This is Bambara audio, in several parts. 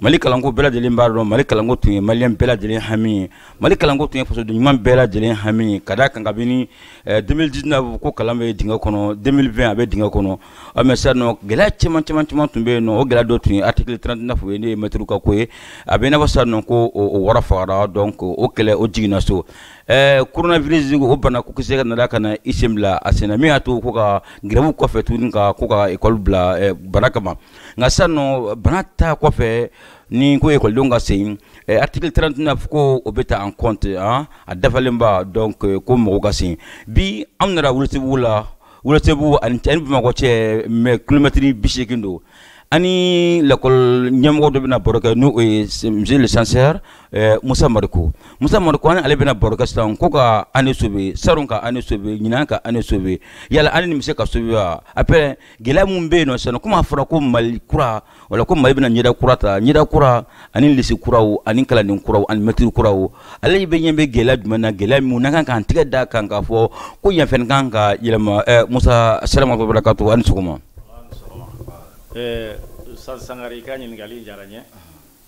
mali kalanko bɛɛ lajɛlen b'a dɔn mali kalanko tun ye maliyɛn bɛɛ lajɛlen hami ye mali kalanko tun ye fasoden ɲuman bɛɛ lajɛlen hami ye ka da kan kabini 2019 eh, ko kalan bɛ dingɛ kɔnɔ 2020 a bɛ dingɛ kɔnɔ ɔ mais sisan nɔ gɛlɛya caman caman caman tun bɛ yen nɔ o gɛlɛya dɔ tun ye article 39 ye n'o ye mɛtiriw ka ko ye a bɛ i n'a fɔ sisan nɔ ko o wɔyɔ fagara donc o kɛlɛ o jiginna so eh, coronavirus o bana ko kisɛ ka nana ka na i sen bila a senna min y'a to ko ka grève kɔfɛ tuguni ka ko ka école bila eh, bana kama nka sisan nɔ bana ta kɔfɛ ni ko ekɔlidenw ka segin eh, article 39 ko o bɛ ta en compte an ah, a dafalenba donc eh, ko mɔgɔw ka segin bi anw nana welesebugu la welesebugu ani ani bamakɔ cɛ ma kilomɛtiri bi seegin don an ni lakɔli ɲɛmɔgɔ dɔ bɛna baro kɛ n'o ye monsieur le censeur eh, musa mariko musa mariko an ni ale bɛna baro kɛ sisan ko ka année sauver salon ka année sauver ɲinan ka année sauver yala année nin bɛ se ka sauver wa après gɛlɛya minnu bɛ yen nɔ sisan komi a fɔra ko mali kura wala ko mali bɛna ɲɛda kura ta ɲɛda kura ani lycée kuraw ani kalanden kuraw ani mɛtiri kuraw ale bɛ ɲɛ bɛ gɛlɛya jumɛn na gɛlɛya minnu n'an kan k'an tɛgɛ da kan k'a fɔ ko yan fɛnɛ kan ka yɛlɛma eh, musa salamu wabarakatu a ni sɔgɔma eh, sangare i ka ɲininkali diyara n ye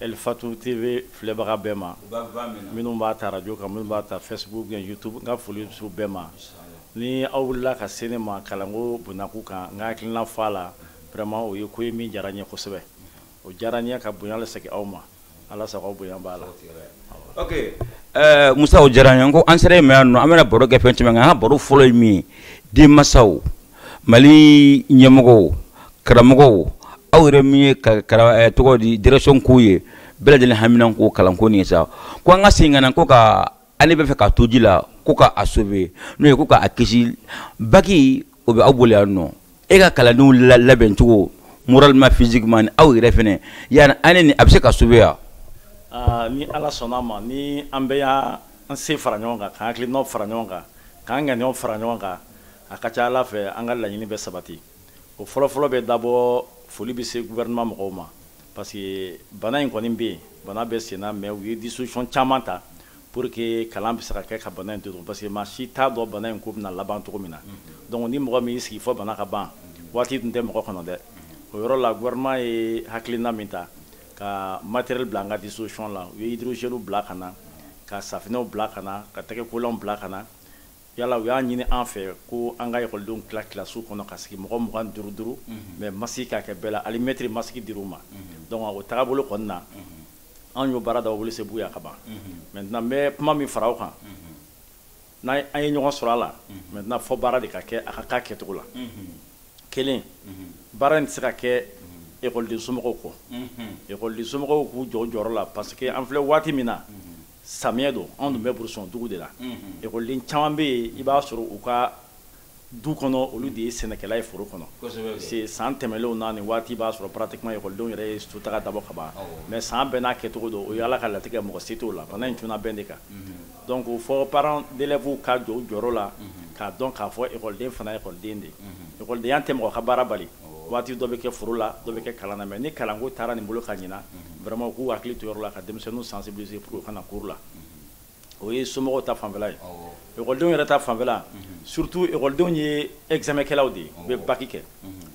Elifatu TV filɛbaga bɛɛ ma, u bɛ voie min na, minnu b'a ta radio kan minnu b'a ta Facebook ou bien YouTube n ka foli bɛ se u bɛɛ ma, ni aw wulila ka se ne ma kalanko bonyako kan n ka hakilina fɔ a la vraiment o ye ko ye min diyara n ye kosɛbɛ, o diyara n ye ka bonya lasegin aw ma Ala sago aw bonya b'a la. Ok ɛɛ Musa o diyara n ye, n ko an sera e ma yan nɔ an bɛna baro kɛ fɛn caman kan, an ka baro fɔlɔ ye min ye denmansaw mali ɲɛmɔgɔw karamɔgɔw aw yɛrɛ min ye eh, tɔgɔ di direction k'u ye bɛɛ lajɛlen haminanko kalanko nin sa ko an ka segin ka na ko ka année bɛ fɛ ka to ji la ko ka a sauver n'o ye ko ka a kisi baki o bɛ aw bolo yan nɔ e ka kalandenw labɛn cogo moralement physiquement aw yɛrɛ fɛnɛ yala année nin a bɛ se ka sauver wa ah, ni ala sɔnna a ma ni an bɛɛ y'an se fara ɲɔgɔn kan k'an hakilinaw fara ɲɔgɔn kan k'an ŋaniyaw fara ɲɔgɔn kan a ka ca ala fɛ an ka laɲini bɛ sabati o fɔlɔfɔlɔ bɛ d'abord foli bɛ se gouvernement mɔgɔw ma parce que bana in kɔni bɛ yen bana bɛ senna mais u ye disposition caman ta pour que kalan bɛ se ka kɛ ka bana in to yen parce que maa si t'a dɔn bana in ko bɛna laban cogo min na donc ni mɔgɔ min y'i sigi fɔ bana ka ban waati dun tɛ mɔgɔ kɔnɔ dɛ o yɔrɔ la gouvernement ye hakilina min ta ka matériel bila an ka disposition la u ye hydrogel bila ka na ka safinɛw bila ka na ka tɛgɛkolanw bila ka na yala u y'a ɲini an fɛ ko an ka ekɔlidenw tila kilasiw kɔnɔ ka sigi mɔgɔ mugan duuru duuru mais masigi ka kɛ bɛɛ la hali mɛtiri masigi dir'u ma donc o tagabolo kɔni na an y'o baara da wuli se buya ka ban maintenant n bɛ kuma min fara o kan n'an an ye ɲɔgɔn sɔrɔ a la maintenant fo baara de ka kɛ a ka k'a kɛcogo la kelen baara in tɛ se ka kɛ ekɔliden somɔgɔw kɔ ekɔliden somɔgɔw k'u jɔ u jɔyɔrɔ la parce que an filɛ waati min na samiyɛ don anw dun bɛ burusɔn dugu de la ekɔliden caman bɛ yen i b'a sɔrɔ u ka du kɔnɔ olu de ye sɛnɛkɛla ye foro kɔnɔ parce san tɛmɛlenw na nin waati i b'a sɔrɔ pratiquement ekɔlidenw yɛrɛ ye sotaga dabɔ ka ban mais san bɛɛ n'a kɛcogo don o y' ala ka latigɛ mɔgɔ se t'o la bana in cunna bɛɛ de kan donc fo parents d'élèvesw ka jɔ u jɔyɔrɔ la k'a dɔn k'a fɔ ekɔliden fana ye ekɔliden de ye ekɔlidenya tɛ mɔgɔ ka baara bali waati dɔ bɛ kɛ foro la dɔ bɛ kɛ kalan na mais ni kalanko taara nin bolo kan ɲinan vraiment u k'u hakili to o yɔrɔ la ka denmisɛnninw sensibiliser pour u ka na cours la o ye somɔgɔw ta fanfɛla ye ekɔlidenw yɛrɛ ta fanfɛla surtout ekɔlidenw ye examen kɛlaw de ye u bɛ baki kɛ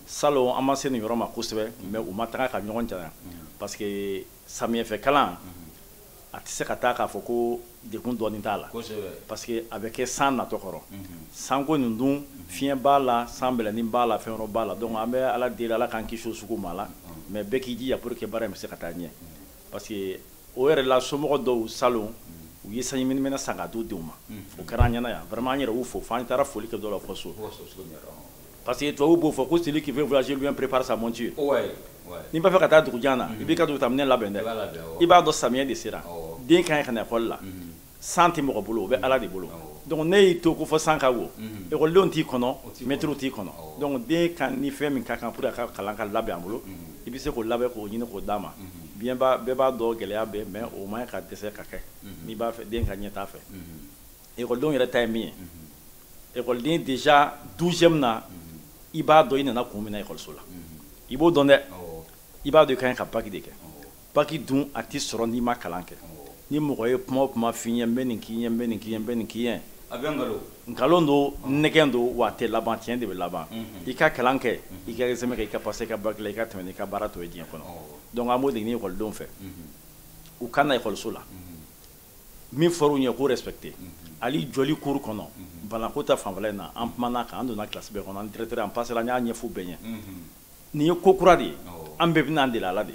salon an ma se nin yɔrɔ ma kosɛbɛ mais u ma taga ka ɲɔgɔn jan parce que samiyɛ fɛ kalan a tɛ se ka taa k'a fɔ ko degun dɔɔni t'a la parce que a bɛ kɛ san natɔ kɔrɔ sanko nin dun fiɲɛ b'a la sanbɛlɛni b'a la fɛn b'a la donc an bɛ Ala deli Ala k'an kisi o sugu ma la mais bɛɛ k'i jija pour que baara in bɛ se ka taa ɲɛ parce que o yɛrɛ la somɔgɔ dɔw salon u ye sanjiminɛminɛn san ka d'u denw ma o kɛra an ɲɛna yan vraiment an yɛrɛ y'u fo fo an taara foli kɛ dɔ la fo so. parce que tubabu b'o fɔ ko celui qui veut voyager loin prépare sa monture n'i b'a fɛ ka taa dugu jan na i b'i ka dugutaminɛ labɛn dɛ i b'a dɔn samiyɛ de sera den ka ɲi ka na ekɔli la san tɛ mɔgɔ bolo o bɛ ala de bolo donc n'i y'i to ko fo san ka wo ekɔlidenw t'i kɔnɔ mɛtiriw t'i kɔnɔ donc den ka ni fɛn min ka kan pour a ka kalan ka labɛn a bolo i bɛ se k'o labɛn k'o ɲini k'o d'a ma bien bɛɛ b'a dɔn gɛlɛya bɛ mais o man ka dɛsɛ ka kɛ n'i b'a fɛ den ka ɲɛtaa fɛ Ekɔlidenw yɛrɛ ta ye min ye ekɔliden déjà douzième na i b'a dɔn i nana kun min ekɔliso la i b'o dɔn dɛ i b'a dɔn ka ka baki de kɛ baki dun a tɛ sɔrɔ n'i ma kalan kɛ ni mɔgɔ ye kuma kuma f'i ɲɛ bɛ nin k'i bɛ nin k'i bɛ nin k'i ye a bɛɛ nkalon don nɛgɛn don wa a tɛ laban tiɲɛ de bɛ laban i ka kalan kɛ i ka sɛmɛ kɛ i ka passer ka baki i ka tɛmɛ i ka baara to ye diɲɛ kɔnɔ donc n b'o de ɲini ekɔlidenw fɛ u ka na ekɔliso la min fɔr'u ɲɛ k'o respecté hali jɔli cour kɔnɔ banako ta fanfɛla in na an kumana kan an donna classe bɛɛ kɔnɔ an traitera an passera an y'a ɲɛf'u bɛɛ ɲɛ nin ye ko kura de ye an bɛɛ bɛna an deli a la de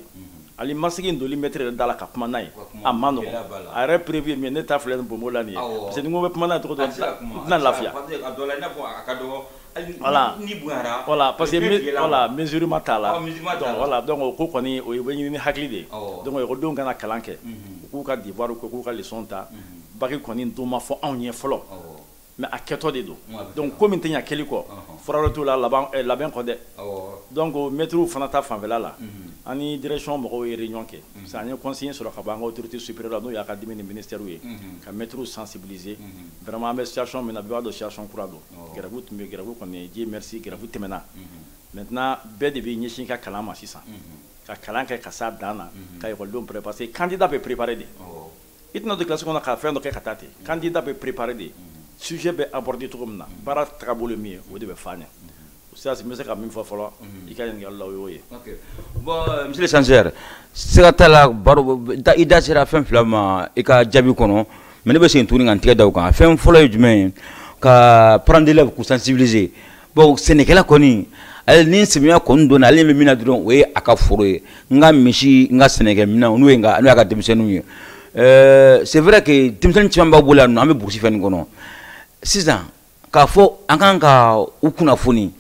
hali masigi in doli maître yɛrɛ da la ka kuma n'a ye a man nɔgɔn a yɛrɛ preuve ye min ye ne ta filɛ nin n bonbon la nin ye parce que ni n ko n bɛ kuma n'a ye cogo dɔ la n tɛna lafiya Voilà. Ni bonyara. Voilà parce que voilà mesure ma t'a la. Ɔ mesure ma t'a la. Donc voilà donc o ko kɔni o ye bɛ ɲini ni hakili de ye. Awɔ. Donc ekɔlidenw kana kalan kɛ. Unhun. U k'u ka devoir kɛ u k'u ka leçon ta. Unhun. Bac kɔni don ma fɔ anw ye fɔlɔ. Awɔ. Mais a kɛtɔ de don. Awɔ. Donc ko min tɛ ɲɛ kɛli kɔ. Ɔnhɔn. Fura wɛrɛ t'o la laban ɛ labɛn kɔ dɛ. Awɔ. Donc maîtres fana ta fanfɛla la. Unhun. An ni direction mɔgɔw ye réunion kɛ. Unhun. Parce que an ye consigne sɔrɔ ka bɔ an ka autorité supérieure la n'o ye académie ni ministère ye. Unhun. Ka maîtres sensibiliser. Unhun. Vraiment an bɛ situation min na bɛɛ b'a dɔn situation kura don. grève tun bɛ grève kɔni Dieu merci grève tɛmɛna maintenant bɛɛ de bɛ ɲɛsin ka kalan ma sisan ka kalan kɛ ka se a dan na ka ekɔlidenw pré parce que candidat bɛ préparé de i tɛna don classe kɔnɔ ka fɛn dɔ kɛ ka taa ten candidat bɛ préparé de sujet bɛ abordé cogo min na baara tagabolo min ye o de bɛ f'a ɲɛ sasi bɛ se ka min fɔ fɔlɔ i ka ɲininkali la o y'o ye bon mesure sincère sira t'a la baro i da sera fɛn fila ma i ka jaabi kɔnɔ mais ne bɛ segin tuguni ka tigɛ da kan fɛn fɔlɔ ye jumɛn ye ka parents d'élèves k'u sensibiliser bon sɛnɛkɛla kɔni ale ni sɛya kɔni don ale bɛ min dɔn o ye a ka foro ye n'a ka misi n'a ka sɛnɛkɛminɛnw n'o y'a ka denmisɛnninw ye c'est vrai que denmisɛnnin caman b'a bolo yan nɔ an bɛ burusi fɛn nin kɔnɔ sisan k'a fɔ an kan ka u kunnafoni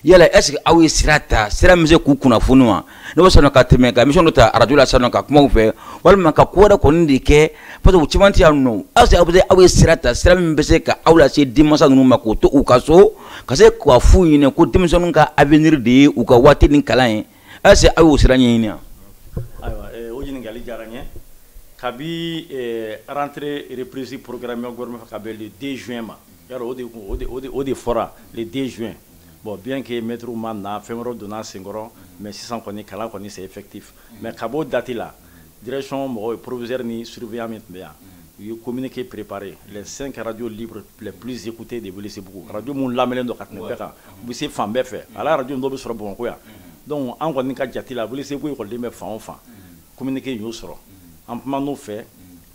yala est ce que aw ye sira ta sira min bɛ se k'u kunnafoni wa ne bɛ sɔnna ka tɛmɛ ka émission dɔ ta arajo la sisan nɔ ka kuma u fɛ walima ka ko wɛrɛ kɔni de kɛ parce que u caman tɛ yan nɔ est ce que aw bɛ se aw ye sira ta sira min bɛ se ka aw lase denmasa ninnu ma k'u to u ka so ka se k'a f'u ɲinɛ ko denmisɛnninw ka avenir de ye u ka waati ni kalan ye est ce aw y'o sira ɲɛɲini wa. ayiwa eh, o ɲininkali diyara n ye kabi eh, rentrée reprise programmé gouvernement fɛ ka bɛn le 2 juin ma yɔrɔ o de kun o de o de o de fɔra le 2 juin bon bien que maître ma na fɛn wɛrɛw donna senkɔrɔ mais sisan kɔni kalan kɔni c'est effectif mais ka b'o date la Drecon mɔgɔ ye poropze ni surubiya min tun bɛ yan u ye kominɛ ke perepre sen kɛraj psete de wuli sebugu araj minnu lam don ka tɛmɛ bɛɛ kan u bɛ se fan bɛɛ fɛ ala araj dɔ bɛ sɔrɔ bamakɔko yan dɔnku an kɔni ka jatela a wuli seguko kɔni bɛ fan fan kominike y'o sɔrɔ an tun n' fɛ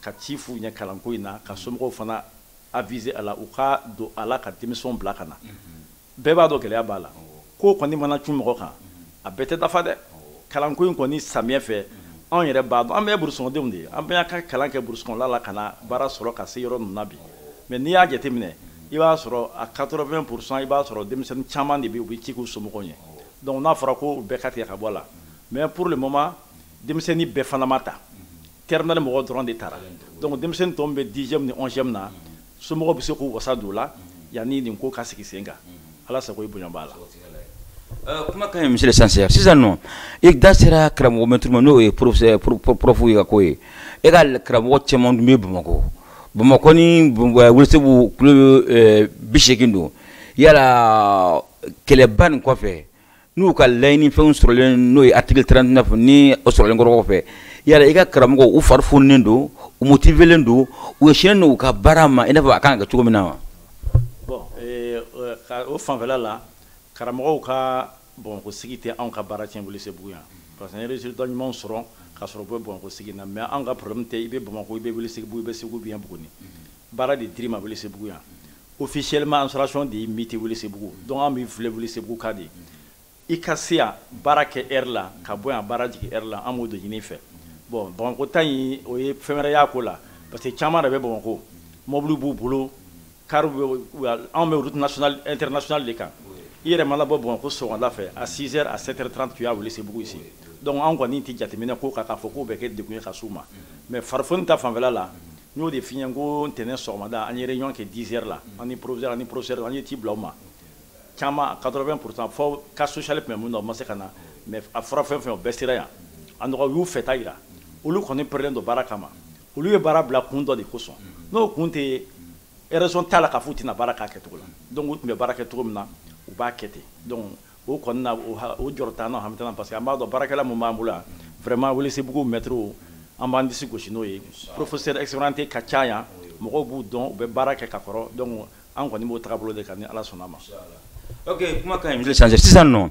ka ci f'u ɲɛ kalanko in na ka somɔgɔw fana a vze a u ka don ala ka denmisɛn bila ka na bɛɛ b'a dɔn gɛlɛya b'a la ko kɔni mana cun mɔgɔ kan a bɛɛ tɛ dafa dɛ kalanko in kɔni samiyɛ fɛ anw yɛrɛ b'a dɔn an bɛɛ burusikɔnɔdenw de ye an bɛɛ y'an ka kalan kɛ burusikɔnɔla la ka na baara sɔrɔ ka se yɔrɔ ninnu bi mais n'i y'a jateminɛ i b'a sɔrɔ a quatre-vingt pour cent i b'a sɔrɔ denmisɛnnin caman de bɛ u bɛ ci k'u somɔgɔw ye donc n'a fɔra ko bɛɛ ka tigɛ ka bɔ a la mais pour le moment denmisɛnnin bɛɛ fana ma taa terminale mɔgɔ dɔrɔn de taara donc denmisɛnnin tɔw bɛ dixième ni onzième na somɔgɔw bɛ se k'u wasa don o la yanni nin ko ka sigi sen kan ala sago i bonya b'a la euh, kuma ka ɲi monsieur le censeur sisan nɔ i da sera karamɔgɔ mɛtiri ma n'o ye porofu ye ka ko ye e ka karamɔgɔ caman tun bɛ bamakɔ bamakɔ ni welesebugu kulo euh, bi seegin don yala kɛlɛba nin kɔfɛ n'u ka layiɲini fɛnw sɔrɔlen n'o ye article 39 nin sɔrɔlen kɔfɛ yala i ka karamɔgɔ u farifoninen don u motivelen don u sinnen don u ka baara ma i n'a fɔ a kan ka kɛ cogo min na wa bon eh, eh, o fanfɛla la karamɔgɔw ka bamako sigi tɛ anw ka baara tiɲɛ welesebugu yan parce que an ye résultat ɲumanw sɔrɔ ka sɔrɔ u bɛ bamako sigi na mais anw ka problème tɛ i bɛ bamako i bɛ welesebugu i bɛ segu bien buguni baara de dir'i ma welesebugu yan officiellement installation de y'i muté Welesebugu donc an b'i filɛ Welesebugu ka de i ka se yan baara kɛ heure la ka bɔ yan baara jigin heure la an b'o de ɲini i fɛ bon Bamakɔ ta in o ye fɛn wɛrɛ y'a ko la parce que caman de bɛ Bamakɔ mɔbiliw b'u bolo car anw bɛ route nationale internationale de kan i yɛrɛ mana bɔ Bamakɔ sɔgɔmada fɛ à 6 heures à 7 heures 30 tu es à Welesebugu ici donc anw kɔni tɛ jateminɛ k'o kan k'a fɔ k'o bɛ kɛ degun ye ka s'u ma mais farifoni ta fanfɛla la n y'o de f'i ɲɛ ko ntɛnɛn sɔgɔmada an ye réunion kɛ 10 heures la an ni proviseur an ni professeur an ye ci bila u ma caman 80 pourcent fo cas social tun bɛ minnu na u ma se ka na mais a fɔra fɛn fɛn o bɛɛ sera yan a nɔgɔ y'u fɛta jira olu kɔni pɛrɛlen don baara kama olu ye baara bila kun dɔ de kosɔn n'o kun tɛ raison t'a la k'a fɔ u tɛna baara k'a kɛcogo la donc u tun bɛ baara kɛ cogo min na u b'a kɛ ten donc o kɔni na o jɔrɔ t'an na hami parce que an b'a dɔn baarakɛla mun b'an bolo yan vraiment Welesebugu mɛtiriw an b'an disi gosi n'o ye professeur expérimenté ka ca yan mɔgɔw b'u dɔn u bɛ baara kɛ ka kɔrɔ donc an kɔni b'o tagabolo de kan ni Ala sɔnn'a ma. Ok kuma ka ɲi monsieur le censeur sisan nɔ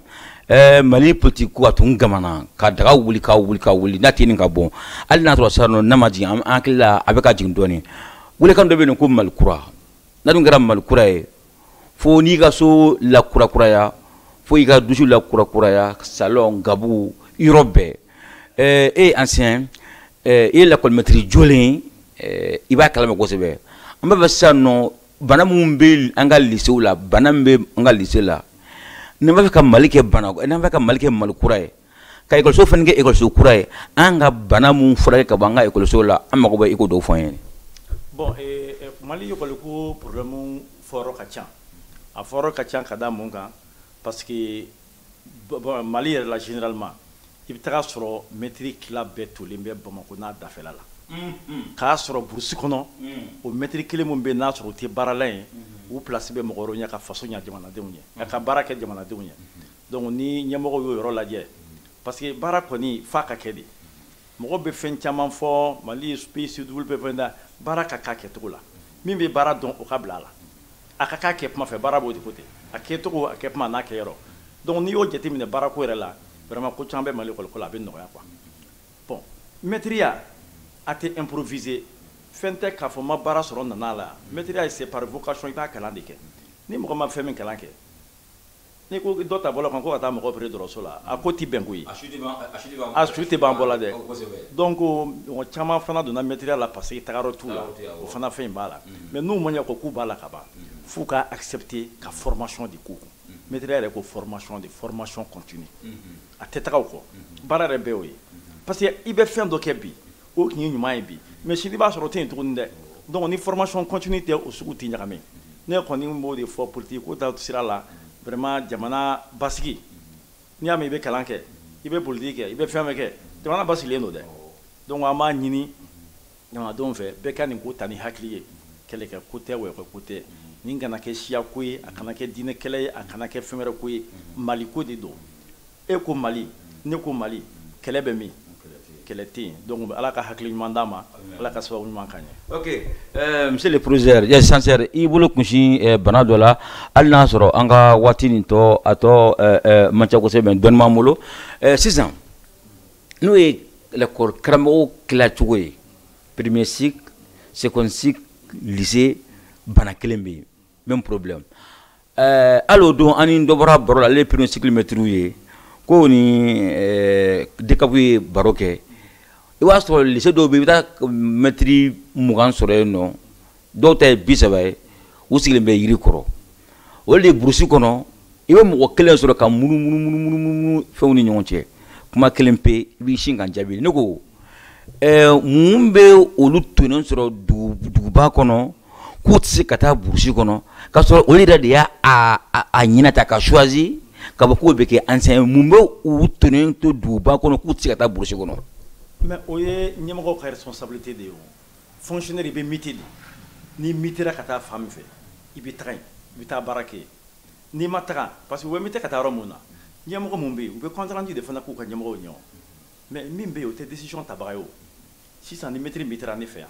ɛɛ Mali politique ko a tun gamana ka daga wuli ka wuli ka wuli n'a tɛ nin ka bɔ hali n'a sɔrɔ sisan nɔ n'a ma jigin an hakili la a bɛ ka jigin dɔɔnin welekan dɔ bɛ yen ko Mali kura n'a dun kɛra Mali kura ye fo n'i ka so lakurakuraya fo i ka dusu lakurakuraya salon gabugu yɔrɔ bɛɛ eh, e ye ancien eh, i ye lakɔlimɛtiri jolen eh, i b'a kalama kosɛbɛ an b'a fɛ sisan nɔ bana minnu bɛ an ka lisew la bana min bɛ an ka lise la n'an b'a fɛ ka mali kɛ bana n'an b'a fɛ ka mali kɛ mali kura ye ka ekɔliso fana kɛ ekɔliso kura ye an ka bana minnu furakɛ ka bɔ an ka ekɔliso la an mago bɛ i k'o dɔw fɔ an ye bon eh, eh, mali ekɔliko problɛmu fɔyɔrɔ ka ca a fɔyɔrɔ ka ca ka da mun kan parce que mali yɛrɛ la généralement i bɛ taga sɔrɔ mɛtiri tila bɛɛ tolen bɛ bamako n'a dafɛla la mm-hmm. k'a sɔrɔ burusi kɔnɔ mm. o mɛtiri kelen min bɛ n'a sɔrɔ o tɛ baarala ye mm-hmm. u pilasi bɛ mɔgɔ wɛrɛw ɲɛ ka faso ɲɛ jamanadenw ye ka baara kɛ jamanadenw ye mm-hmm. donc ni ɲɛmɔgɔw y'o yɔrɔ lajɛ parce que baara kɔni f'a ka kɛ de mɔgɔ bɛ fɛn caman fɔ mali pcw bɛ fɛn da baara ka k'a kɛcogo la min bɛ baara dɔn o ka bila a la a ka k'a kɛ kuma fɛ baara b'o de ko ten a kɛcogo a kɛ kuma n'a kɛ yɔrɔ donc n'i y'o jateminɛ baarako yɛrɛ la vraiment ko caman bɛ mali lakɔliko la a bɛ nɔgɔya quoi bon mɛtiriya a tɛ improviser fɛn tɛ k'a fɔ n ma baara sɔrɔ nana la mɛtiriya c'est par vocation i b'a kalan de kɛ ni mɔgɔ ma fɛn min kalan kɛ n'i ko dɔ ta bɔlɔn kan ko ka taa mɔgɔ opérer dɔgɔtɔrɔso la a ko tɛ bɛn koyi a su tɛ ban bɔ la dɛ donc mɔgɔ caman fana donna mɛtiriya la parce que tagayɔrɔ t'u la o fana fɛn in b'a la mais n'u man ko k'u b'a la ka ban f'u ka accepter ka formation de k'u kun mɛtiriya yɛrɛ ko formation de formation continue a tɛ taga o kɔ baara yɛrɛ bɛɛ o ye parce que i bɛ fɛn dɔ kɛ bi o tun ye ɲuman ye bi mais sini b'a sɔrɔ o tɛ yen tuguni dɛ donc ni formation continue tɛ o sugu tɛ ɲagami ne kɔni b'o de fɔ politiki ko ta sira la vraiment jamana basigi n'i y'a mɛn i bɛ kalan kɛ i bɛ politiki kɛ i bɛ fɛn bɛɛ kɛ jamana basigilen don dɛ donc an b'a ɲini jamanadenw fɛ bɛɛ ka nin ko ta ni hakili ye kɛlɛkɛ ko tɛ wɛkɛ ko tɛ nin kana kɛ siya ko ye a kana kɛ diinɛ kɛlɛ ye a kana kɛ fɛn wɛrɛ ko ye mali ko de don e ko mali ne ko mali kɛlɛ bɛ min kɛlɛ tɛ yen donc ala ka hakili ɲuman d'an ma ala ka sababu ɲuman k'an ye ok euh, monsieur le proviseur euh censeur i bolo kunsi euh, bana dɔ la hali n'a sɔrɔ an ka waati nin tɔ a tɔ euh, euh, man ca kosɛbɛ mais dɔnni b'an bolo euh, sisan n'o ye lakɔli karamɔgɔw tila cogo ye premier cycle seconde cycle lycée bana kelen bɛ yen même problème ɛɛ hali o don an ni dɔ bɔra baro la ale ye premier cycle mɛtiri ye k'u ni eh, dcapw ye baro kɛ i b'a sɔrɔ lycée dɔw bɛ i bɛ taa mɛtiri mugan sɔrɔ yen nɔ dɔw ta ye bi saba ye u sigilen bɛ yiri kɔrɔ o de ye burusi kɔnɔ i bɛ mɔgɔ kelen sɔrɔ ka munumunumunumunu fɛnw ni ɲɔgɔn cɛ kuma kelen pe i b'i sin k'an jaabi ne ko ɛɛ mun bɛ olu tonnen sɔrɔ dugu- duguba kɔnɔ k'u tɛ se ka taa burusi kɔnɔ k'a sɔrɔ olu yɛrɛ de y'a a ɲɛnata ka choisi ka bɔ k'u bɛ kɛ enseignant ye mun bɛ u tonnen to duguba kɔnɔ k'u tɛ se ka taa burusi kɔnɔ. mais o ye ɲɛmɔgɔw ka responsabilité de ye o fonctionnaire i bɛ mite de n'i mitera ka taa fan min fɛ i bɛ taga yen i bɛ taa baara kɛ yen n'i ma taga parce que u bɛ mite ka taa yɔrɔ min na ɲɛmɔgɔ min bɛ yen u bɛ compte rendu de fana k'u ka ɲɛmɔgɔw ye o mais min bɛ yen o tɛ décision tabaga ye o sisan ni maître mitera ne fɛ yan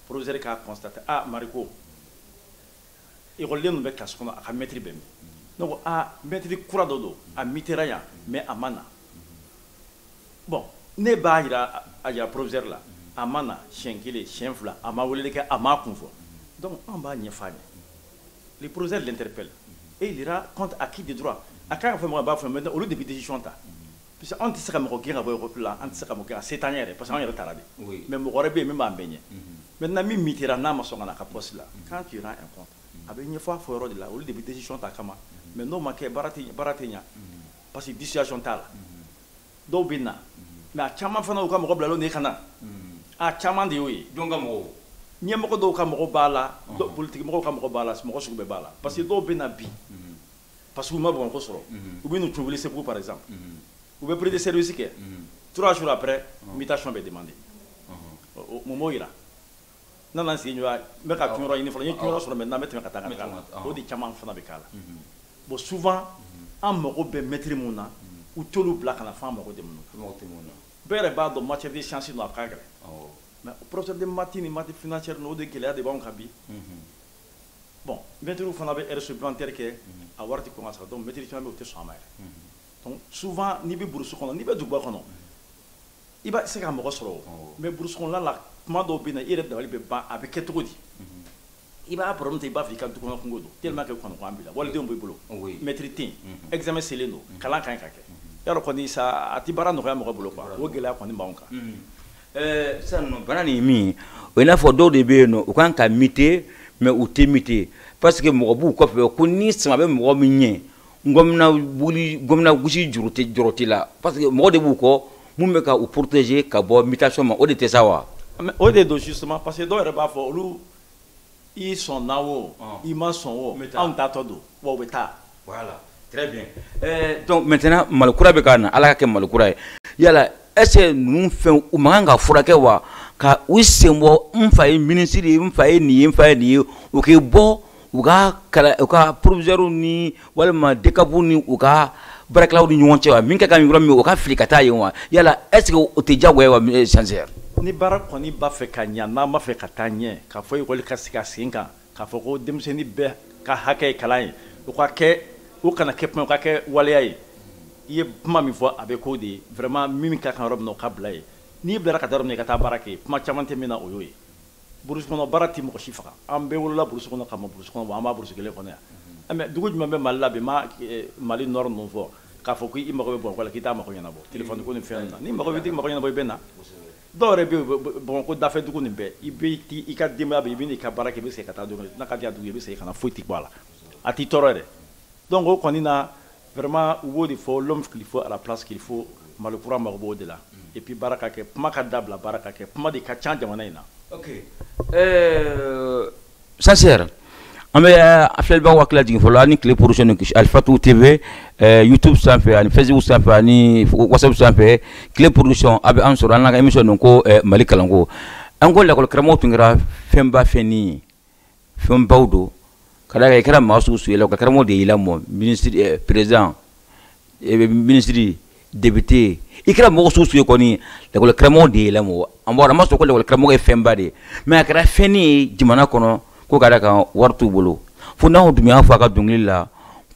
proviseur k'a kɔnstate a ah, mariko ekɔliden min bɛ kilasi kɔnɔ a ka mɛtiri bɛ min ne ko a ah, mɛtiri kura dɔ don a mutera yan mais a ma na bon ne b'a yira a yira proviseur la a ma na siɲɛ kelen siɲɛ fila a ma weleli kɛ a m'a kun fɔ donc an b'a ɲɛf'a ye le proviseur l'interpelle et il rend compte à qui de droit a kan ka fɛn min a b'a fɔ mɛ olu de bɛ décision ta parce que anw tɛ se ka mɔgɔ gɛn ka bɔ yɔrɔ la an tɛ se ka mɔgɔ gɛn ka se t'an yɛrɛ parce que anw yɛrɛ tara de mais mɔgɔ wɛrɛ bɛ yen min b'an bɛɛ ɲɛ maintenant min mutera n'a ma sɔn ka na a ka poste la nous rendons compte a bɛ ɲɛfɔ a fɔ yɔrɔ de la olu de bɛ décision ta a kama mais n'o ma kɛ baara tɛ baara tɛ ɲɛ parce que dissuasion t'a la dɔw bɛ na mais a caman fana y'u ka mɔgɔ bilalen de ka na a caman de y'o ye jɔn ka mɔgɔw ɲɛmɔgɔ dɔw ka mɔgɔ b'a la politique mɔgɔw ka mɔgɔ b'a la mɔgɔ sugu bɛɛ b'a la parce que dɔw bɛ na bi parce que u ma bamakɔ sɔrɔ u bɛ n'u fili segu par exemple u bɛ prise de service kɛ trois jours après mutation bɛ demander mun b'o yira n nana n sigi ɲɔgɔn n bɛ ka donyɔrɔ ɲini fɔlɔ n ye donyɔrɔ sɔrɔ maintenant n bɛ tɛmɛ ka taa ka taa o de caman fana bɛ k'a la bon souvent an mago bɛ mɛtiri min na u t'olu bila ka na f'an mago tɛ min na bɛɛ yɛrɛ b'a dɔn matière de science don a ka gɛlɛn mais professeur de maths ni maths financière ninnu o de gɛlɛya de b'anw kan bi bon mɛtiriw fana bɛ heures supplémentaires kɛ mhm. a wari tɛ kɔn ka sara donc mɛtiri caman bɛ o tɛ sɔn a ma yɛrɛ mhm. souvent n'i bɛ burusi kɔnɔ n'i bɛ duguba kɔnɔ mhm. i bɛ se ka mɔgɔ sɔrɔ o mais burusi kɔnɔla la tuma dɔw bɛ na i yɛrɛ dabali bɛ ban a bɛ kɛ cogo di i b'a problème ta i b'a fɔ i ka dukɔnɔ kunko don tellement que kɔnɔgan b'i la walidenw b'i bolo mɛtiri tɛ yen examen selen don kalan ka kan ka kɛ y'a dɔn kɔni sa a tɛ baara nɔgɔya mɔgɔ bolo quoi o gɛlɛya kɔni b'anw kan Ɛɛ sisan nɔ bana nin ye min ye o ye n'a fɔ dɔw de bɛ yen nɔ u kan ka mute mais u tɛ mute parce que mɔgɔ b'u kɔfɛ ko ni sama bɛ mɔgɔ min ɲɛ ngɔmi n'a gosi o jɔrɔ t'i la parce que mɔgɔ de b'u kɔ minnu bɛ ka u protéger ka bɔ mutation ma o de tɛ sa wa o de don si suma parce que dɔw yɛrɛ b'a fɔ olu i sɔnna o i ma sɔn o anw taatɔ don wa anw bɛ taa très bien donc maintenant Mali kura bɛ ka na Ala ka kɛ Mali kura ye yala est ce que ninnu fɛnw u man kan ka furakɛ wa ka u senbɔ n fa ye ministre ye n fa ye nin ye n fa ye nin ye u k'i bɔ u ka proviseurs ni walima DCAP ni u ka baarakɛlaw ni ɲɔgɔn cɛ wa min ka kan yɔrɔ min o ka fili ka taa yen wa yala est ce que o tɛ diyagoya wa eh, censeur ni baara kɔni b'a fɛ ka ɲa n'an b'a fɛ ka taa ɲɛ k'a fɔ ekɔli ka sigi a sen kan k'a fɔ ko denmisɛnnin bɛɛ ka hakɛ ye kalan ye o ka kɛ o kana kɛ kuma o ka kɛ waleya ye i ye kuma min fɔ a bɛ k'o de ye vraiment min ka kan yɔrɔ min na o ka bila yen n'i bilara ka taa yɔrɔ min na i ka taa baara kɛ kuma caman tɛ min na o y'o ye burusi kɔnɔ baara tɛ mɔgɔ si faga an bɛɛ wolola burusi kɔnɔ ka mɔ burusi kɔnɔ bon an b'o burusi kelen kɔnɔ yan mm-hmm. mɛ dugu jumɛn bɛ mali la bi ma eh, mali nɔrɔ ninnu fɔ k'a fɔ ko i mago bɛ bamakɔ la k'i t'a mago ɲɛnabɔ mm-hmm. telefɔni ko ni fɛn na n'i mago bɛ t'i mago ɲɛnabɔ i bɛ na dɔw yɛrɛ bɛ bamakɔ dafɛ dugunin bɛɛ i bɛ ti i ka denbaya bɛ i bɛ n'i ka baara kɛ i bɛ segin ka taa don n'a ka diya dugu i bɛ segin ka na foyi tɛ bɔ a la a t'i tɔɔrɔ yɛrɛ donc o kɔni na Vraiment u b'o de fɔ l'homme qu'il faut à la place qu'il faut Mali kura mago b'o de la et puis baara ka kɛ kuma ka dabila baara ka kɛ kuma de ka ca jamana in na. Ok ɛɛ Censeur an bɛ an filɛlibaaw hakili lajigin fɔlɔ aw ni tile production ni kisi Alifatu TV ɛɛ YouTube sanfɛ ani Facebook sanfɛ ani WhatsApp sanfɛ tile production aw bɛ an sɔrɔ an n'an ka émission don ko Mali kalanko an ko lakɔlikaramɔgɔ tun kɛra fɛnba fɛnnin ye fɛnbaw don ka d'a kan i kɛra maa sugu o sugu lakɔlikara de y'i lamɔ président ministre député i kɛra mɔgɔ sugu o sugu ye kɔni lakɔlikara de y'i lamɔ mɛ an bɔra a ma sɔn lakɔlikara ye fɛnba de ye mɛ a kɛra fɛn ye jamana kɔnɔ ko ka d'a kan wari t'u bolo fo Nahawa Dumbiya y'a fɔ a ka dɔnkili la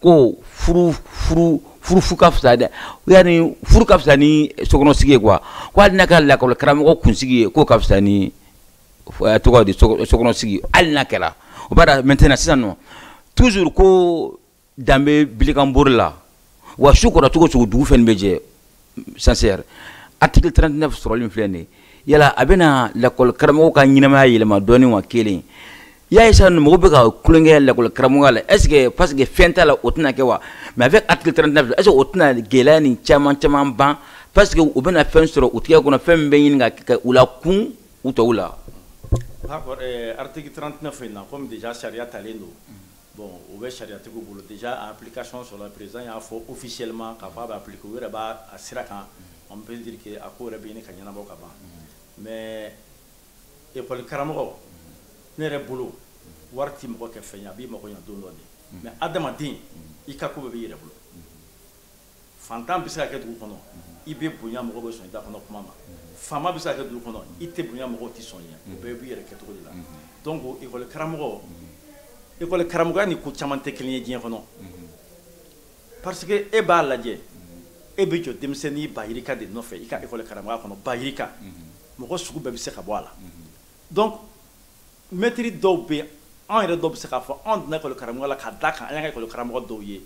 ko furu ka fisa dɛ u y'a ni furu ka fisa ni sokɔnɔsigi ye kuwa k' hali n'a kɛra lakɔlikara kunsigi ye k'o ka fisa ni tɔgɔ di sokɔnɔ sigi hali n'a kɛra o b'a da maintenant sisan nɔ tuur ko danbebe bikanbururi la wa su kora cogo o cogo dugu fɛn bɛ jɛ censeur article 39 sɔrɔlen filɛ dɛ yala a bɛna lakɔli karamɔgɔ ka ɲɛnamaya yɛlɛma dɔɔnini wa kelen ya ye san mɔgɔw bɛ ka kukɛ lakɔli karamɔgɔ la est-ce que parce que fɛn t'a la o tɛna kɛ wa mais avec article 39 est-ce que o tɛna gɛlɛya nin caman caman ban parce que u bɛna fɛn sɔrɔ u tɛgɛ kɔnɔ fɛn bɛ ɲini ka u la kun u tɔw la eh, article 39 in na comme déjà sariya talen don bon o bɛ sariyatigiw bolo déjà a application sɔrɔla président y'a fɔ officiellement k'a fɔ a bɛ appliquer u yɛrɛ b'a a sira kan on peut dire que a ko yɛrɛ bɛ ɲini ka ɲɛnabɔ ka ban mais école karamɔgɔ ne yɛrɛ bolo wari tɛ mɔgɔ kɛ fɛn ye a b'i mago ɲa don dɔ de mais adamaden i ka ko bɛɛ b'i yɛrɛ bolo fantan bɛ se ka kɛ dugu kɔnɔ i bɛ bonya mɔgɔ bɛ sɔn i da kɔnɔ kuma ma faama bɛ se ka kɛ dugu kɔnɔ i tɛ bonya mɔgɔ tɛ sɔn i ye o bɛɛ b'i yɛrɛ kɛcogo de la donc ekɔli karamɔgɔ ekɔli karamɔgɔya ni ko caman tɛ kelen ye diɲɛ kɔnɔ parce que e b'a lajɛ e bɛ jɔ denmisɛnnin ba yirika de nɔfɛ i ka ekɔli karamɔgɔya kɔnɔ ba yirika mɔgɔ sugu bɛɛ bɛ se ka bɔ a la donc mɛtiri dɔw bɛ yen anw yɛrɛ dɔw bɛ se k'a fɔ anw donna ekɔli karamɔgɔya la ka d'a kan an ye ekɔli karamɔgɔ dɔw ye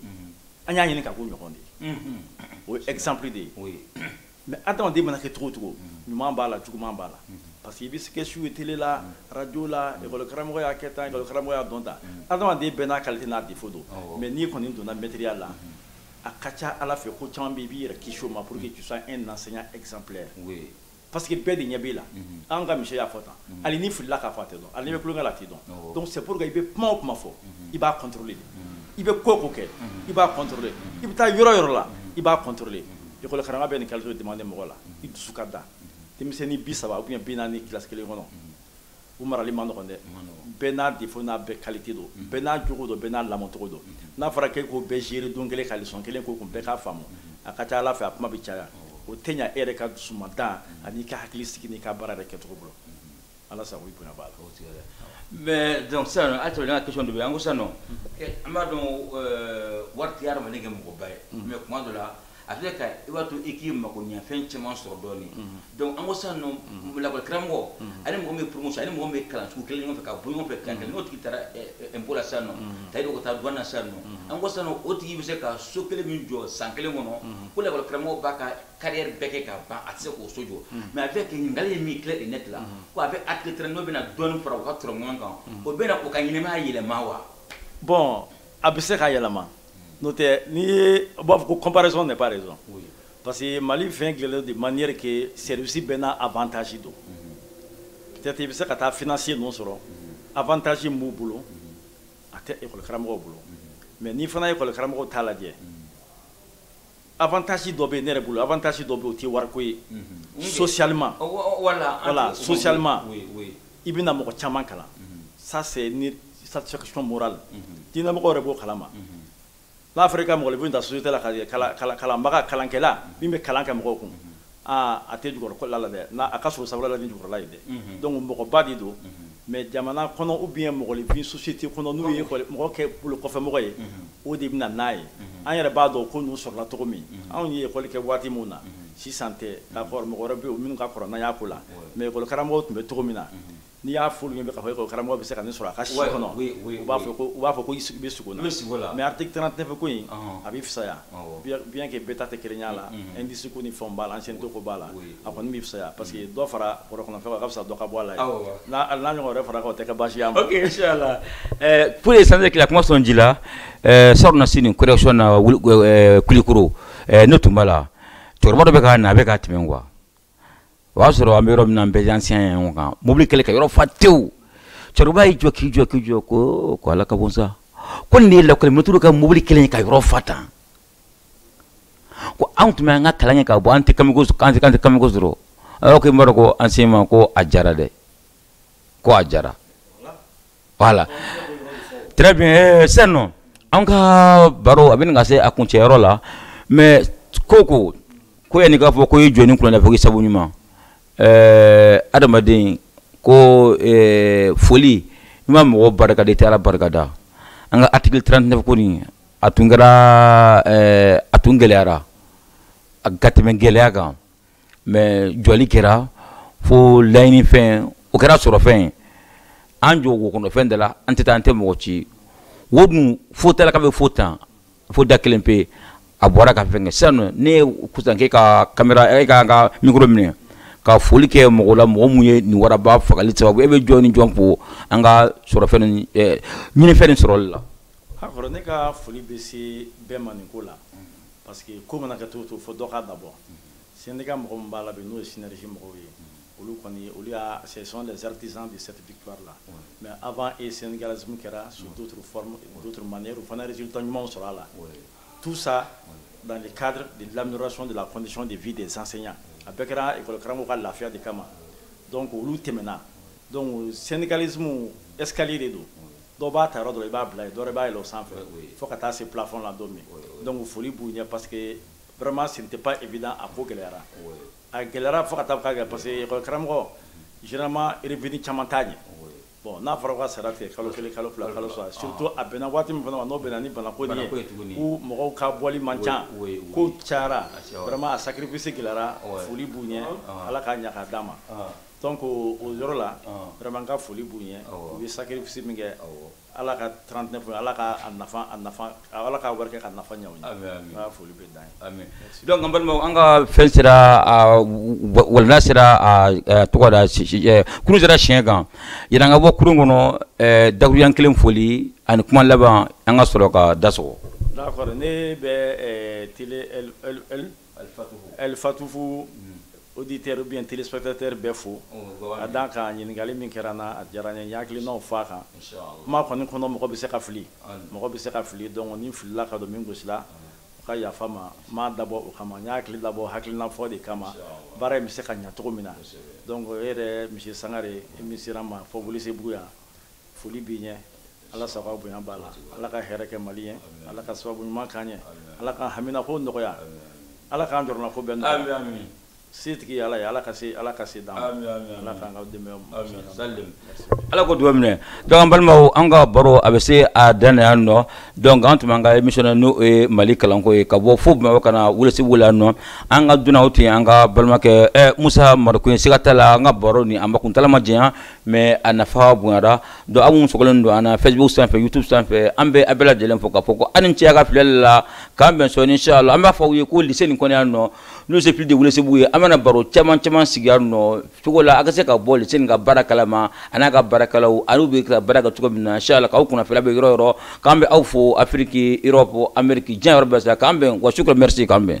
an y'a ɲini ka k'u ɲɔgɔn de ye o ye exemple de ye mɛ adamaden mana kɛ cogo o cogo ɲuman b'a la juguman b'a la parce que i bɛ se k'a sugu ye tele la arajo la ekɔli karamɔgɔ y'a kɛ tan karamɔgɔ y'a dɔn ta adamaden bɛɛ n'a qualité n'a défaut don mɛ n'i kɔni donna mɛtiriya la a ka ca a la fɛn ko caman bɛ i b'i yɛrɛ kisi o ma pour que tu sois un enseignant exemplaire parce que bɛɛ de ɲɛ b'e la an ka monsieur y'a fɔ tan hali n'i filila k'a fɔ a tɛ dɔn hali n'i bɛ tulonkɛ la a t'i dɔn donc c'est pour que i bɛ kuma o kuma fɔ i b'a contrôler i bɛ ko o ko kɛ i b'a contrôler i bɛ taa yɔrɔ o yɔrɔ la i b'a contrôler école karamɔgɔ bɛ nin qualité demander mɔgɔ la i dusu ka da denmisɛnnin bi saba ou bien bi naani classe kelen kɔnɔ u marali ma nɔgɔn dɛ bɛɛ n'a défaut n'a bɛɛ qualité don mm-hmm. bɛɛ n'a jogo don bɛɛ n'a lamɔcogo don mm-hmm. n'a fɔra k'e k'o bɛɛ gérer don kelen ka leçon kelen k'u kun bɛɛ k'a faamu mm-hmm. a ka ca la fɛ a kuma bɛ caya o tɛ ɲa e yɛrɛ ka dusumantan an'i ka hakilisigi n'i ka baara yɛrɛ kɛcogo bolo ala sago i bonya b'a la mais donc sisan an ka question dɔ bɛ an ko sisan nɔ an b'a dɔn wari tɛ hadamaden kɛ mɔgɔba ye mais kuma dɔ la a filɛ ka i b'a to i k'i makoɲɛfɛn caman sɔrɔ dɔɔnin donc an ko sisan nɔ lakɔli karamɔgɔ ani mɔgɔ min ye promotion ani mɔgɔ min ye kalan sugu kelen ɲɔgɔn fɛ ka bɔ ɲɔgɔn fɛ kalan kelen n'o tigi taara impôt la sisan nɔ ta ka taa douane na sisan nɔ an ko sisan nɔ o tigi bɛ se ka so kelen min jɔ san kelen kɔnɔ ko lakɔli karamɔgɔ b'a ka carrière bɛɛ kɛ ka ban a tɛ se k'o so jɔ mais a bɛ kɛ ɲininkali ye min clair et net la ko a bɛ article 39 bɛna dɔɔnin fara u ka tɔrɔmɔɲɔgɔn kan o bɛna u ka ɲɛnamaya yɛlɛma wa bon a bɛ se ka yɛlɛma n'o tɛ n'i ye u b'a fɔ ko comparaison n'est pas raison parce que Mali fɛn dilanlen de manière que service bɛɛ n'a avantage don peut-être i bɛ se ka taa financier ninnu sɔrɔ avantage min b'u bolo a tɛ école karamɔgɔw bolo mais n'i fana ye école karamɔgɔw ta lajɛ avantage dɔ bɛ ne yɛrɛ bolo avantage dɔ bɛ o tɛ wariko ye socialement voilà socialement i bɛna mɔgɔ caman kalan ça c'est une satisfaction morale diinɛmɔgɔ yɛrɛ b'o kalama n'a fɔra i ka mɔgɔninfin ta société la ka kalanbaga kalankɛla min bɛ kalan kɛ mɔgɔw kun aa a tɛ jukɔrɔla la dɛ n'a a ka sɔrɔ sabula la ni jukɔrɔla ye dɛ donc mɔgɔba de don mais jamana kɔnɔ ou bien mɔgɔninfin société kɔnɔ n'u ye école mɔgɔ kɛ bolokɔfɛmɔgɔ ye o de bɛna n'a ye an yɛrɛ b'a dɔn ko ninnu sɔrɔla cogo min anw ye école kɛ waati min na sisan tɛ d'accord mɔgɔ wɛrɛ bɛ yen minnu ka kɔrɔ n'an y'a ko la mais école karamɔgɔ tun bɛ cogo min na n'i y'a f'olu ɲɛna k'a fɔ e ko karamɔgɔ bɛ se ka nin sɔrɔ a ka si kɔnɔ u b'a fɔ ko u b'a fɔ ko i bɛ sugo la i bɛ sugo la mais article 39 ko in a bɛ fisaya bien que bɛɛ ta tɛ kelenya la indice ko ni fɛnw b'a la ancienneté ko b'a la a kɔni bɛ fisaya parce que dɔ fara bɔrɔ kɔnɔ fɛn kan a ka fisa dɔ ka bɔ a la n'a ɲɔgɔn wɛrɛ fara kan o tɛ kɛ baasi y'a ma ok inchallah pour yaasa k'i la kuma sɔn ji la salonnasini correction na Kulikɔrɔ ne tun b'a la cɛkɔrɔba dɔ bɛ ka na a bɛ ka tɛmɛ quoi o y'a sɔrɔ an bɛ yɔrɔ min na an bɛɛ enseignantw ka mobili kɛlen ka yɔrɔ fa tewu cɛkɔrɔba y'i jɔ k'i jɔ k'i jɔ ko ko ala ka bon sa ko nin de ye lakɔli mɛtiriw ka mobili kɛlen ye ka yɔrɔ fa tan ko anw tun bɛ an ka kalan kɛ ka bɔ an tɛ kamiko an tɛ kamiko sɔrɔ a yɔrɔ ko i b'a dɔn ko enseignement ko a diyara dɛ ko a diyara la eh, sen nɔ an ka baro a bɛ ɲini ka se a kuncɛyɔrɔ la mais ko ko ko yanni k'a fɔ ko ye jɔni kɔnɔ fo sabu ɲuman eh, adamaden ko eh, foli n'i ma mɔgɔ barika da taara barikada an ka article trente-neuf ko a tun kɛra eh, a tun gɛlɛyara ka tɛmɛ gɛlɛya kan mais jɔli kɛra fo laɲinifɛn o kɛra sɔrɔfɛn ye an jɔ wo kɔnɔ fɛn da la an tɛ taa an tɛ mɔgɔ ci wo dun fo tala ka bɛ fo tan fo da kelen pe a bɔra ka fɛn kɛ sisan ne ye kusan k'e ka kamera e ka ka mikoro minɛ ka foli kɛ mɔgɔ la mɔgɔ min ye nin waraba fagali sababu ye i bɛ jɔn ni jɔn fo an ka sɔrɔ fɛn ɲinifɛn nin sɔrɔli la ne ka foli bɛ se bɛɛ ma nin ko la parce que ko mana kɛ cogo o cogo fo dɔ k'a dabɔ syndicat mɔgɔ min b'a la bi n'o ye synergie mɔgɔw ye olu kɔni olu y'a ce sont les artisans de cette victoire là mais avant e syndicalisme kɛra sous d'autres formes d'autres manières u fana résultat ɲumanw sɔrɔ a la tout ça dans le cadre de l'amélioration de la condition de vie des enseignants a bɛɛ kɛra école karamɔgɔw ka lafiya de kama donc olu tɛmɛna donc syndicalisme escalier de don dɔw b'a ta yɔrɔ dɔ i b'a bila yen dɔw b'a yɛlɛn sanfɛ fo ka taa se plafond la don min donc foli b'u ɲɛ parce que vraiment ce n'était pas évident a ko gɛlɛyara a gɛlɛyara fo ka taa k'a kɛ parce que école karamɔgɔ généralement revenu caman t'a ɲɛ bon n'a fɔra ka sara tigɛ kalo kelen kalo fila kalo saba surtout a bɛnna waati min fana ma n'o bɛnna ni banako nin ye ko mɔgɔw ka bɔli man ca ko cayara vraiment a sacrifice gɛlɛyara foli b'u ɲɛ ala k'a ɲa k'a d'an ma Donc o yɔrɔ la vraiment n ka foli b'u ye u ye sacrifice min kɛ article trente-neuf ala ka ala ka wari ka nafa ɲa ye foli bɛ da donc an balimaw an ka fɛn sera voilà an sera tɔgɔda kurun sera cɛncɛn kan yanni an ka bɔ kurun kɔnɔ daɲɛ kelen foli ani kuma laban an ka sɔrɔ ka da sɔgɔ ne bɛ alifatufu auditeur ou bien téléspectateur bɛɛ fo a dan ka ɲininkali min kɛra n na a diyara n ye n ye n hakilina fɔ a kan kuma kɔni kɔnɔ mɔgɔ bɛ se ka fili mɔgɔ bɛ se ka fili donc ni n filila ka don min gasi la o ka yafa n ma n m'a dabɔ o kama n ye hakili dabɔ hakilina fɔ de kama baara in bɛ se ka ɲɛ cogo min na e yɛrɛ monsieur sangare i min sera n ma fo welesebugu yan foli b'i ɲɛ ala sago bonya b'a la ala ka hɛrɛ kɛ mali ye ala ka sababu ɲuman k'an ɲɛ ala k'an haminanko nɔgɔya ala k'an jɔrɔnanko bɛɛ ɲa setigi ala ye ala ka se ala ka se dan ala k'an ka dɛmɛ ala ka dugawu minɛ donc balimaw an ka baro a bɛ se a dan yan nɔ donc an tun bɛ an ka émission na n'o ye mali kalanko ye ka bɔ fo bamakɔ ka na welesebugu yan nɔ an ka dunan tun ye an ka balimakɛ musa mariko ye siga t'a la an ka baro nin a kuntaala ma janya mais a nafa bonyara donc aw minnu sɔgɔlen don an na facebook sanfɛ youtube sanfɛ an bɛ aw bɛɛ lajɛlen fo k'a fɔ ko aw ni ce aw ka filɛli la k'an bɛn sɔɔni inshallah an b'a fɔ aw ye ko lycée nin kɔnɔ yan nɔ n'o lycée public de welesebugu ye an bɛna baro caman caman sigi yan nɔ cogo la aw ka se ka bɔ lycée nin ka baara kalama a n'a ka baarakɛlaw an'u bɛ ka baara kɛ cogo min na inshallah k'aw kunnafoni aw bɛ yɔrɔ yɔrɔ k'an bɛ aw fo afiriki europe ameriki diɲɛ yɔrɔ bɛɛ sa k'an bɛn wa sukura merci k'an bɛn